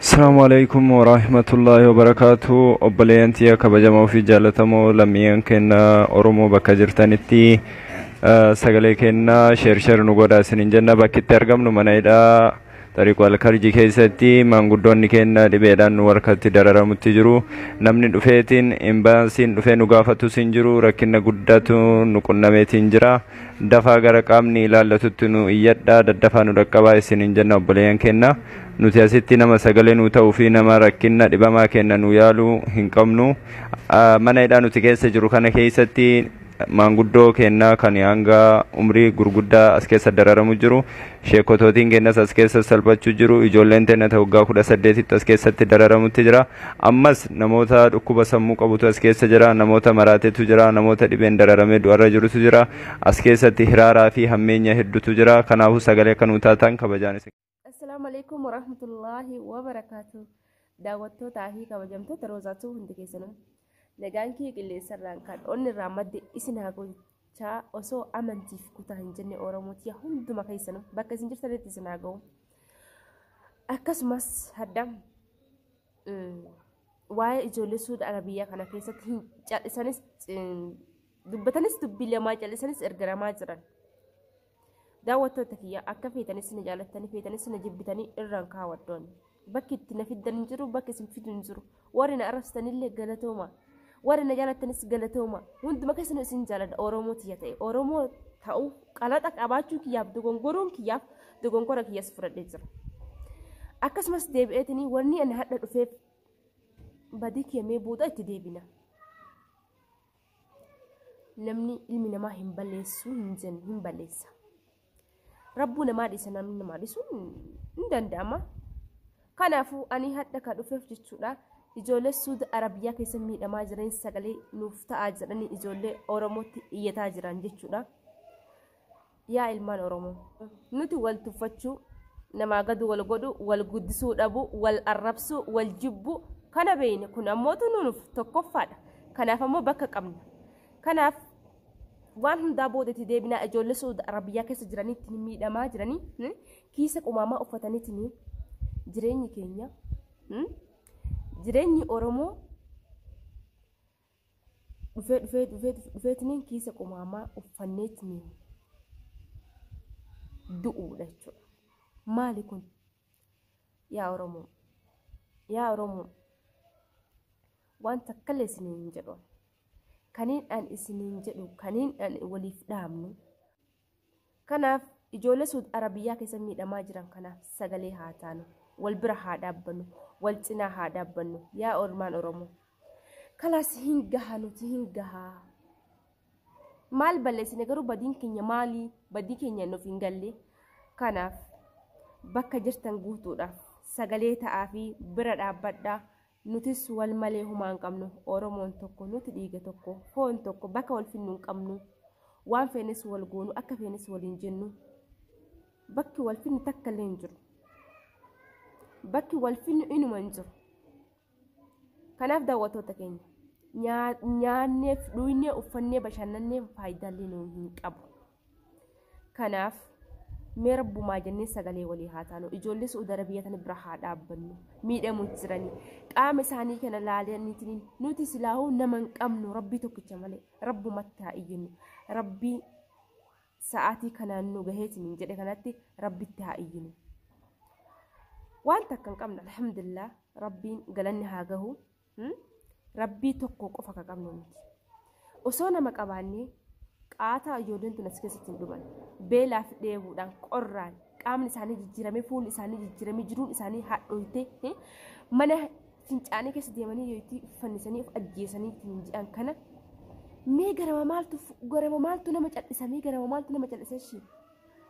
Assalamu alaikum wa rahmatullahi wa barakatuh. Obboleeyyan tiyya kabajamoo fi jaallatamoo lammiiwwan keenya Oromoo bakka jirtanitti eh, sagalee keenya sheer sheer nu godhaa isiniin jenna bakki itti argamnu mana hidhaa Tariiqu Alkarji keessatti maanguddoonni keenya dhibeedhaan nu harkatti dararamutti jiru. Namni dhufeetiin imbaasiin dhufee nu gaafatus hin jiru rakkina guddatu nu qunnameetiin jira. Dafaa gara qaamni ilaallatutti nuu iyyadhaa daddafaa nu dhaqqabaa isiniin jenna obboleeyyan keenna. Nuti asitti nama sagalee nuu ta'uu fi nama rakkinna dhibamaa keenna nuu yaalu hin qabnu. Mana hidhaa nuti keessa jiru kana keessatti maanguddoo keenna kan hanga umrii gurguddaa as keessa dararamu jiru. Sheekotootiin keenyas as keessa salphachuu jiru. Ijoolleen teenya ta waggaa kudha saddeetitti as keessatti dararamutti jira. Ammas namoota dhukkuba sammuu qabutu as keessa jira. Namoota maraatetu jira. Namoota dhibeen dararamee du'arra jirutu jira. As keessatti hiraaraa fi hammeenya heddutu jira. Kanaafuu sagalee akka nuu taatan kabajaan isin. Assalaamu alaikum warahmatullaahi wabarakaatu. Daawwattootaa fi kabajamtoota Roozaatuu hundi keessanuu. Nagaan kee qilleensarraan kan onnirraa madde isin haa godhu. Chaa osoo amantiif kutaa hin jenne Oromootiya hunduma keessanuu bakka isin jirtanitti isin haa ga'u. Akkasumas hadda waa'ee ijoollee suuda arabiyyaa kana keessatti hin cal'isanis dubbatanis dubbii lamaa cal'isanis ergaramaa jiran. Daawwattoota kiyya akka feetanis na jaalattanii feetanis na jibbitanii irraan ka'a waddoon. Bakki itti na fiddan hin jiru bakki isin fidu hin jiru. Warri na arrabsitanillee galatooma. Warri na jaalattanis galatooma. Hunduma keessanuu isin jaaladha Oromoo tiyya ta'e. Oromoo ta'uuf qalaxa qabaachuu kiyyaaf dogongoruun kiyyaaf dogongora kiyyas fudhadhee jira. Akkasumas deebi'eetinii wanni ani hadha dhufeef badii kiyya mee booda itti deebina. namni ilmi namaa hin balleessu hin jennu hin balleessa. Rabbuu namaa dhiisa namni namaa dhiisu hin danda'ama. Kanaafuu ani hadha ka dhufeef jechuudha. Ijoollee Suudi Arabiyaa keessa miidhamaa jiran sagalee nuuf ta'aa jedhanii ijoollee Oromootti iyyataa jiran jechuudha. Yaa ilmaan Oromoo! Nuti wal tuffachuu, namaa gad wal godhu, wal guddisuu dhabu, wal arrabsu, wal jibbu kana beeyne. Kun ammootu nuunuf tokkoffaadha. Kanaaf ammoo bakka qabna. Kanaaf waan hundaa booda itti deebinaa ijoollee Su'uud Arabiyyaa keessa jiranitti miidhamaa jiranii hmm, kiisa qumaamaa uffatanitti jireenyi keenya hmm, jireenyi Oromoo dhufee dhufee dhufee dhufeetiniin kiisa qumaamaa uffanneetiniin du'uudha jechuudha. Maali kun? Yaa Oromoo! Yaa Oromoo! Waan takkallee isiniin hin jedhu. Kaniin an isiniin jedhu, kaniin an waliif dhaamnu Kanaaf ijoollee Suud Arabiyyaa keessa miidhamaa jiran kanaaf sagalee haa taanu, wal bira haa dhaabbannu, wal cinaa haa dhaabbannu yaa olmaan Oromoo. Kalaas hin gaha nuti hin gaha. Maal balleessine garuu badiin keenya maali? Badii keenya nuuf hin galle. Kanaaf bakka jirtan guutuudhaaf sagalee ta'aa fi bira dhaabbadhaa. Nutis wal malee humaa hin qabnu. Oromoon tokko, nuti dhiiga tokko, foon tokko, bakka wal finnu hin qabnu. Waan feenes wal goonu, akka feenes waliin jennu. Bakki wal finnu takka illee hin jiru. Bakki wal finnu inuma hin jiru. Kanaaf daawwattoota keenya nyaanneef dhugnee uffannee bashannannee faayidaallee nu hin qabu. Kanaaf mee rabbumaa jennee sagalee walii haa taanu. Ijoollee Su'uudi Arabiyaa tana bira haa dhaabbannu. Miidhamu jirani. Qaama isaanii kana laalaniitiin nuti silaahuu nama hin qabnu rabbii tokkicha malee rabbumatti haa iyyinu. Rabbii sa'aatii kanaan nu gahee isiniin jedhe kanatti rabbitti haa iyyinu. Waan takka hin qabne alhamdulillah rabbiin galanni haa gahu. Rabbii tokko qofa ka qabnu miti. Osoo nama qabaannee qaataa ijoolleen tun as keessatti hin dhuman. Beelaa fi dheebuudhaan qorraan qaamni isaanii jijjiiramee fuulli isaanii jijjiiramee jiruun isaanii hadhooytee mana fincaanii keessa deemanii yoo itti fannisanii of ajjeesanii ittiin jedhan kana mee garama maaltu garama maaltu nama callisamee garama maaltu nama callisee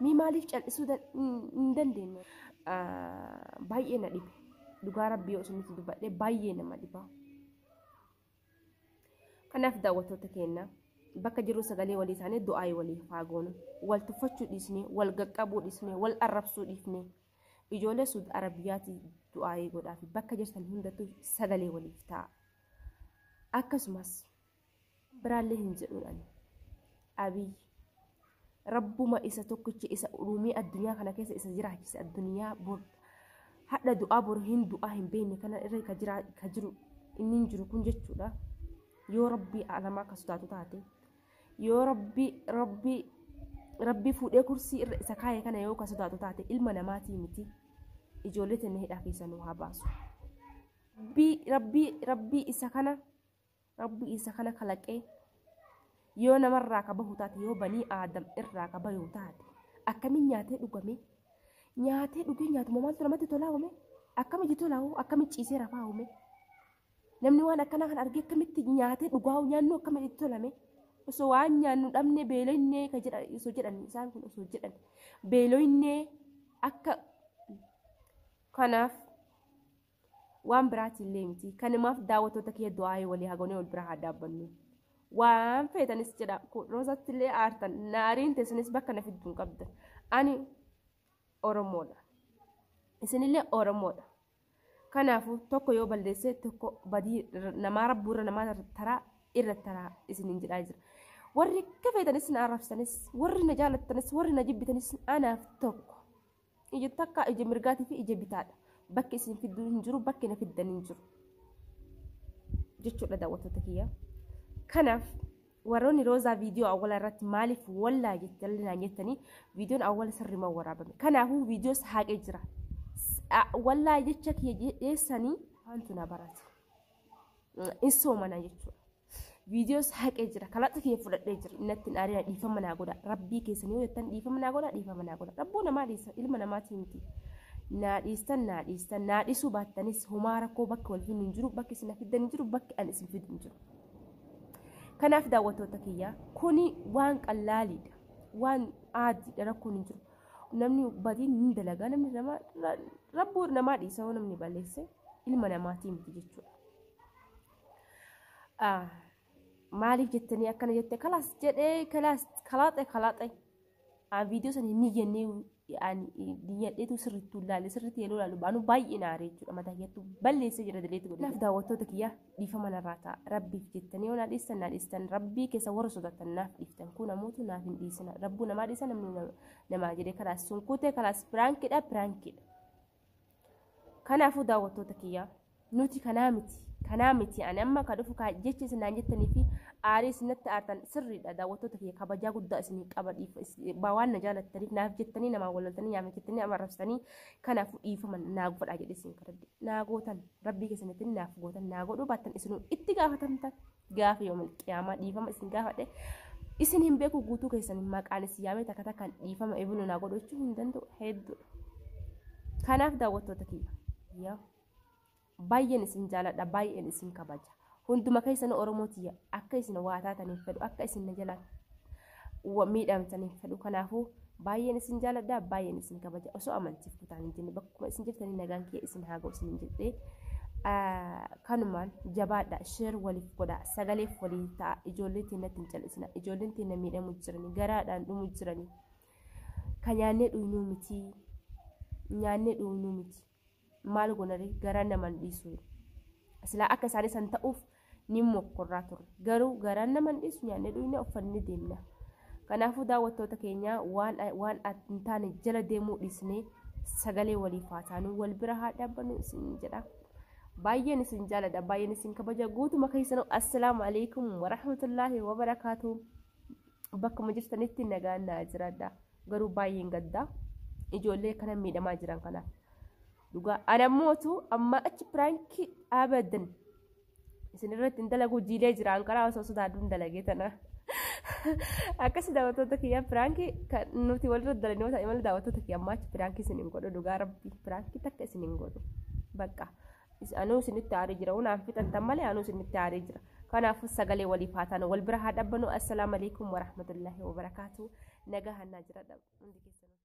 Mee maaliif cal'isuu dan- hin- hin dandeenye? Ah, Baay'ee na dhibe. Dhugaa rabbii yoo isinitti dubbadhe baay'ee nama dhiba. Kanaaf daawwattoota keenya bakka jirru sagalee walii taanee du'aayii walii haa goonu. Wal tuffachuu dhiisnee, wal gaqqabuu dhiisnee, wal arrabsuu dhiifnee. Ijoollee Suud Arabiyaati du'aayii godhaafi bakka jirtan hundattuu sagalee waliif ta'a. Akkasumas biraallee hin jedhuun ani abiy rabbuma isa tokkicha isa uumee addunyaa kana keessa isa jiraachise addunyaa bor hadha du'aa bor hin du'aa hin beekne kana irra ka jiraa ka jiru inni hin jiru kun jechuudha yoo rabbii alamaa akka sodaatu taate yoo rabbii rabbii rabbii fuudhee kursii irra isa kaa'e kana yoo ka sodaatu taate ilma namaatii miti ijoollee tenne hidhaa keessa nu haa baasu rabbii rabbii rabbii isa kana Rabbi isa kana kalaqee yoo namarraa ka bahu taate yoo banii aadam irraa ka bayu taate akkamiin nyaatee dhugame nyaatee dhugee nyaatuma maaltu namatti tolaa uume akkamitti tolaa hoo akkamitti ciisee rafaa uume namni waan akkanaa kan argee akkamitti nyaatee dhugaa hoo nyaannu akkamitti itti tolame osoo waan nyaannu dhabne beeloyne ka jedha osoo jedhan isaan kun osoo jedhan beeloyne akka kanaaf waan biraati illee miti kanumaaf daawwattoota kiyya du'aa'ee walii hagoonee wal bira haa dhaabbannu waan feetanis jedha roosatti illee aartan naariin teessinis bakka na fiddu hin qabda ani oromoodha isinillee oromoodha kanaafuu tokko yoo balleessee tokko badii namaa rabbuurra namaa taraa irra taraa isiniin jedhaa jira warri akka feetanis na arrabsanis warri na jaalattanis warri na jibbitanis anaaf tokko Ija takka ija mirgaatii fi ija bitaadha. Bakki isin fidduu hin jiru, bakki na fiddan hin jiru. Jechuudha daawwattoota kiyya. Kanaaf warroonni roozaa viidiyoo awwala irratti maaliif wallaa jettanii naan jettanii viidiyoon awwala sirriimaa waraabame. Kanaafuu viidiyoo saaqee jira. Wallaa jecha kiyya jeessanii maaltu na barate. in soomana jechuudha. Viidiyoos haqee jira. Kalaxa kiyya fudhadhee jira. Innatti hin aarina dhiifama naa godha. Rabbii keessan yoo jettan dhiifama naa godha dhiifama naa godha. Rabbuu namaa dhiisa ilma namaatii miti. Naa dhiistan naa dhiistan naa dhiisuu baattanis homaa rakkoo bakka wal hin jiru bakki isin fiddan hin jiru bakki an isin fiddu hin jiru. Kanaaf daawwattoota kiyyaa kuni waan qallaaliidha. Waan aadiidha rakkoon hin jiru. Namni badiin ni dalagaa namni namaa rabbuu namaa dhiisa yoo namni balleesse. ilma namaatii miti jechuudha. Maaliif jettanii akkana jette kalaas jedhee kalaas kalaaxe kalaaxe viidiyoo sana hin niyyannee diyyadheetu sirriitti ilaalle sirriitti yeroo ilaalu baanu baay'ee naaree jechuudha mataa kiyyaattu balleessee jira daleetti godhe. Naaf daawwattoota kiyyaa dhiifama narraa ta'a rabbiif jettanii yoo naa dhiistan naa dhiistan rabbii keessa warra sodaatan naaf dhiiftan kun ammoo naaf hin dhiisina rabbuu namaa dhiisa namni namaa jedhee kalaas sun kutee kalaas piraankidha piraankidha. Kanaafuu daawwattoota kiyyaa nuti kanaa miti kanaa miti ani amma ka dhufu kaa jecha isin naan jettanii fi aarii isin natti aartan sirriidha daawwattoota kiyya kabajaa guddaa isin qaba dhiifa is- ba- waan na jaalattaniif naaf jettanii namaa walaltanii yaama jettanii nama arrabsitanii kanaaf dhiifama naa godhaa jedhe isin kadhadhe naa gootan rabbii keessanitti naaf gootan naa godhuu baattan isinuu itti gaafatamtan. gaafa yoomil qiyaamaa dhiifama isin gaafadhe isin hin beeku guutuu keessan maqaan isin yaamee takka takkaan dhiifama ebinu naa godhachuu hin danda'u hedduudha. Kanaaf daawwattoota kiyya yaa baay'een isin jaaladha baay'een isin kabaja hunduma keessan Oromoo tiyya akka isin waa taataniif fedhu akka isin na jalaattan wa- miidhamtan hin fedhu kanaafuu baay'een isin jaaladha baay'een isin kabaja osoo amantiif kutaan hin jenne bakkuma isin jirtanii nagaan kiyya isin haa ga'u isin hin jedhee Ah, kanumaan jabaadha sheer waliif godha sagaleef walii ta'a ijoollee teennatti hin callisina ijoolleen teenna miidhamu jirani garaadhaan dhumu jirani ka nyaannee dhugnuu miti nyaannee dhugnuu miti maal gonare garaa naman dhiisu silaa akka isaanii san ta'uuf ni mokkorraa ture garuu garaan naman dhiisu nyaanne dhuyne uffanne deemna kanaafuu daawwattoota keenyaa waan waan hin taane jala deemuu dhiisnee sagalee waliif haa taanu wal bira haa dhaabbannu isin jedha baay'een isin jaaladha baay'een isin kabaja guutuma keessanuu assalaamu alaikum warahmatullaahi wabarakaatu Bakkuma jirtanitti nagaan naa jiraadha. Garuu baay'een gaddaa ijoollee kana miidhamaa jiran kanaaf. Dhugaa ana mootu amma achi piraankii abadan isinirratti hin dalagu jiilee jira anqaraa osoo sodaadhu hin dalagee tana. Akkasii daawwattoota kiyyaa piraankii kan nuti walirra dalagnu yoo ta'e malee daawwattoota kiyyaa amma achi piraankii isin hin godhu dhugaa rabbii piraankii takka isin hin godhu. Bakka. Is anuu isinitti aaree jira waan aan fixantan malee anuu isinitti aaree jira kanaafuu sagalee waliif haa taanu wal bira haa dhabbanu assalaamu alaikum warahmatullaahi wabarakaatu nagaa hannaa jira hundi keessanuu.